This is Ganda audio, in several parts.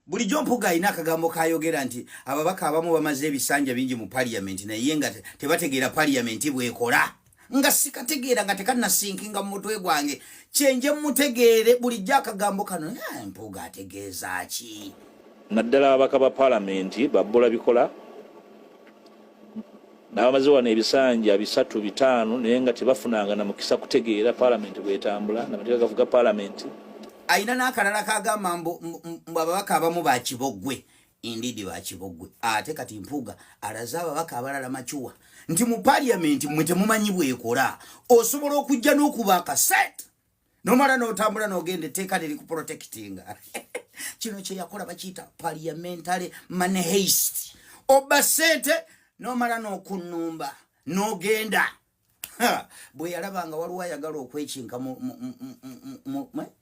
bulijjo mpuga alina akagambo kayogera nti ababaka abamu bamaze ebisanja bingi mu parliament naye nga tebategeera parliament bwekola nga sikategeera nga tekanasinkinga mu mutwe gwange kyenje mutegeere bulijjo akagambo kano eh, mpuga ategeeza ki naddala ababaka ba palamenti babbula bikola n'abamaze wano ebisanja bisatu bitaano naye nga tebafunanga na mukisa kutegeera palamenti bwetambula namateeka gavuga palamenti alina n'akalala kagamba mbu ababaka abamu bakiboggwe indiidi bakiboggwe ate kati mpuuga alaze ababaka abalala macuwa nti mu paliamenti mwe temumanyi bwekola osobola okujja n'okuba akaset nomala notambula nogenda etteeka liri ku protectinga kino kyeyakola bakiyita parliamentary money haste obba sente nomala nokunumba nogenda bwe yalaba nga waliwo ayagala okwekinka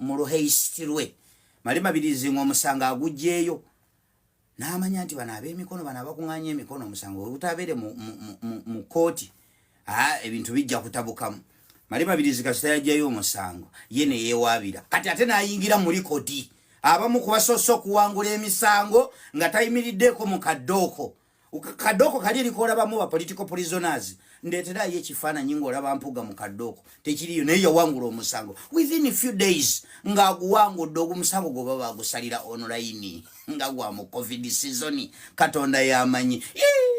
mu luhaste lwe mali mabirizi nga omusango agugyeyo n'amanya nti bano ab'emikono bano abakung'anya emikono omusango webutabeere mu kooti ebintu bijja kutabukamu mali mabirizi kasita yajjayo omusango ye neyewaabira kati ate n'ayingira mu likodi abamu kubasoose okuwangula emisango nga tayimiriddeeko mu kaddooko kadoko kali erikoola bamu ba political prisoners ndeeterayo ekifaananyi ng'olaba mpuga mu kadoko tekiriyo naye yawangula omusango within a few days ng'aguwangudde ogumusango gwoba bagusalira online nga gwa mu covid season katonda yamanyi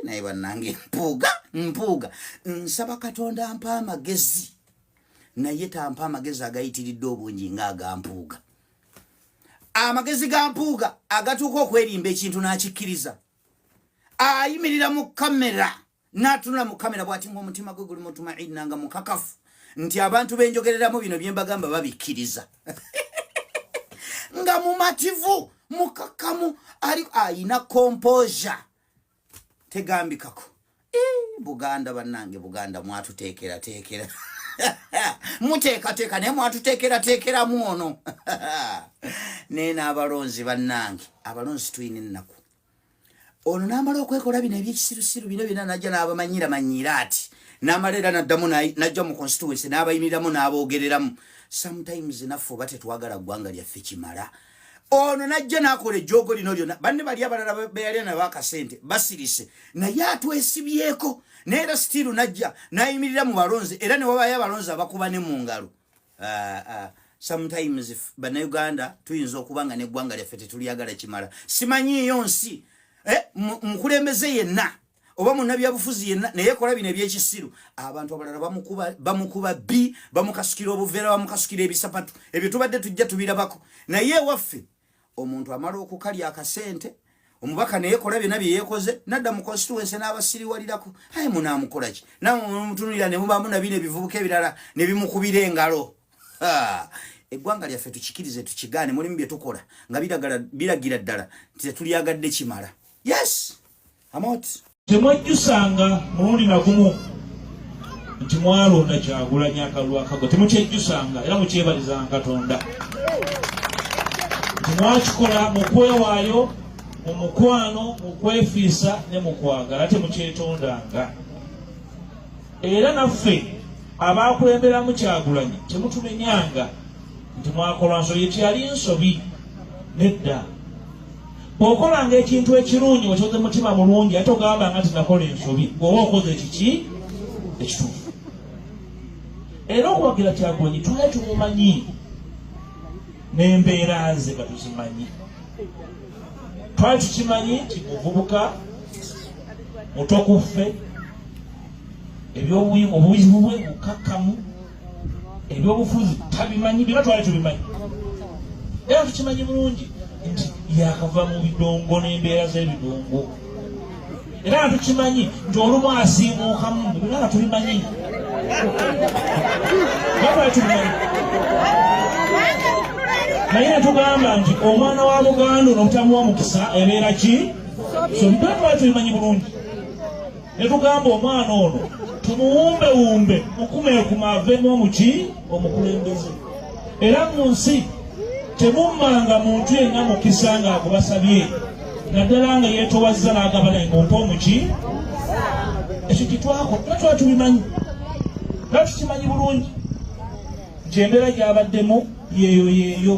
naye bannange mpuuga mpuuga nsaba katonda ampa amagezi naye tampa amagezi agayitiridde obungi ng'agampuuga amagezi ga mpuuga agatuuka okwerimba ekintu n'akikkiriza ayimirira mu kamera n'atunula mu kamera bw'ati ng'omutima gwe guli mutumaina nga mukakafu nti abantu benjogereramu bino bye mbagamba babikkiriza nga mumativu mukakamu ali ayina kompoza tegambikako buganda banange buganda mwatuteekerateekera muteekateeka naye mwatuteekerateekeramu ono naye n'abalonzi banange abalonzi tulina ennaku ono n'amala okwekola bino ebyekisirusiru bino byona najja n'abamanyira manyiira ati n'amala era naddamu najja mu constituency n'abayimiriramu n'aboogereramu sometimes naffe oba tetwagala ggwanga lyaffe kimala ono najja nakola ejjoogo lino lyona banne bali abalala beyalya nabo akasente basirise naye atwesibyeko naye era sitiiru najja nayimirira mu balonzi era newabayo abalonzi abakuba ne mu ngalo ah, ah. sometimes banauganda tuyinza okuba nga neggwanga lyaffe tetulyagala kimala simanyiiyo nsi eh, mukulembeze yenna oba munnabyabufuzi yenna naye ekola bino ebyekisiru abantu abalala bamukuba bi bamukasukira obuveera bamukasukira ebisapatu ebyo tubadde tujja tubirabako naye ewaffe omuntu amala okukalya akasente omubaka naye kola byonna byeyekoze nadda mu constituency n'abasiriwalirako aye munaamukola ki nawe mutunulira ne mubaamu nabino ebivubuka ebirala ne bimukubira engalo eggwanga lyaffe tukikirize tukigaane mulimu bye tukola nga biragira ddala nti tetulyagadde kimala yes temwejjusanga mulundi nagumu nti mwalonda kyagulanyi akalulu akago temukyejjusanga era mukyebalizanga katonda nti mwakikola mu kwewaayo mu mukwano mu kwefiisa ne mu kwagala temukyetondanga era naffe abaakulemberamu kyagulanyi temutumenyanga nti mwakola nsobi ekyali nsobi nedda bwokolanga ekintu ekirungi ocoze mutima mulungi ate ogamba nga tinakola ensobi gweoba okoze kiki ekitufu era okuwagira kyagonyi tula tumumanyi nembeera ze nga tuzimanyi twali tukimanyi nti muvubuka mutokuffe ebyobuyimu obuzibu bwe bukakkamu ebyobufuzi tabimanyi bye batwala tubimanyi era tukimanyi bulungi nti yakava mu bidongo n'embeera z'ebidongo era nga tukimanyi nti olumu asiimuukamu byona nga tubimanyi batwala tubimanyi naye netugamba nti omwana wa buganda ono obutamuwa mukisa ebeera ki so byona twala tubimanyi bulungi ne tugamba omwana ono tumuwumbewumbe mukumeekuma aveemu omuki omukulembeze era mu nsi temummanga muntu yenna mukisa nga agubasabye naddala nga yeetowazza n'agaba naye mumpe omuki ekyo kitwako era tuba tubimanyi era tukimanyi bulungi nti embeera gyabaddemu yeeyo yeeyo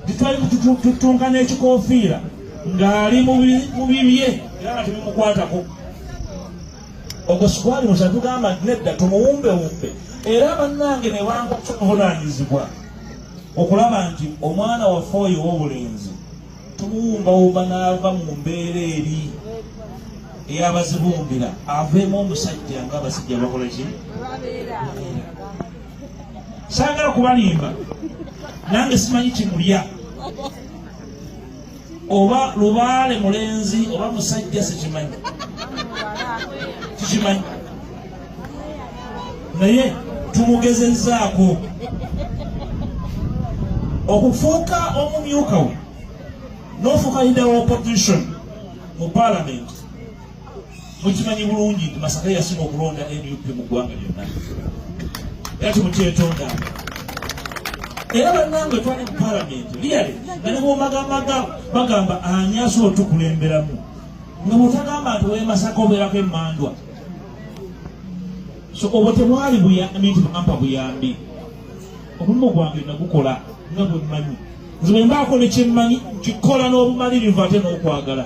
titwali kututunka n'ekikofiira ng'ali mu bibye era nga tebimukwatako ogwo sikwali musa tugamba nti nedda tumuwumbewumbe era bannange ne banga okuvunaanyizibwa okulaba nti omwana waffe oyo ow'obulenzi tumuwumbawumba n'ava mu mbeera eri eyabazibumbira aveemu omusajja nga abasajja bakola ki saagala kubalimba nange simanyi kimulya oba lubaale mulenzi oba musajja sikimanyi tukimanyi naye tumugezezaako okufuuka omumyuka we nofuuka leader wa opposition mu palamenti mukimanyi bulungi nti masaka yasinga okulonda nup mu ggwanga lyonna era timukyetondaanga era bannange twali mu palamenti liyale nga nebwomagamaga bagamba ani asobola otukulemberamu nga bwotagamba nti wemasaka obeerako emandwa so obwo tebwali buyambi nti bampa buyambi omulimu gwange nagukola nga bwemmanyi nze bwembaako nekyemmanyi nkikola n'obumalirivu ate n'okwagala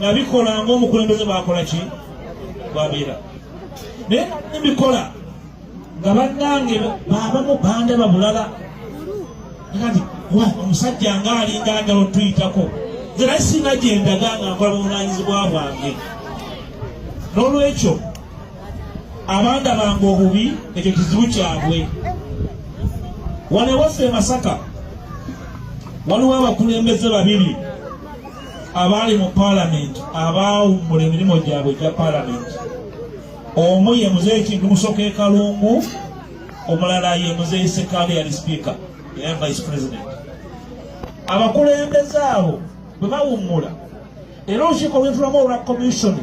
nabikola ngaomukulembeze bwakola ki bwabeera naye nabikola nga bannange babamu bandaba bulala kati wa omusajja nga alinga njala otuyitako nze naye singa gyendaga nga nkola buvunanyizibwa bwange n'olwekyo abanda bange obubi ekyo kizibu kyabwe wano ewaffe e masaka waliwo abakulembeze babiri abaali mu paalamenti abaawummula emirimu gyabwe egya paalamenti omu ye muzeeyi kintu musoka ekalungu omulala ye muzeeyi sekaale yali sipiika era vice president abakulembeze abo bwe bawummula era olukiiko lwentulamu olwa komisioni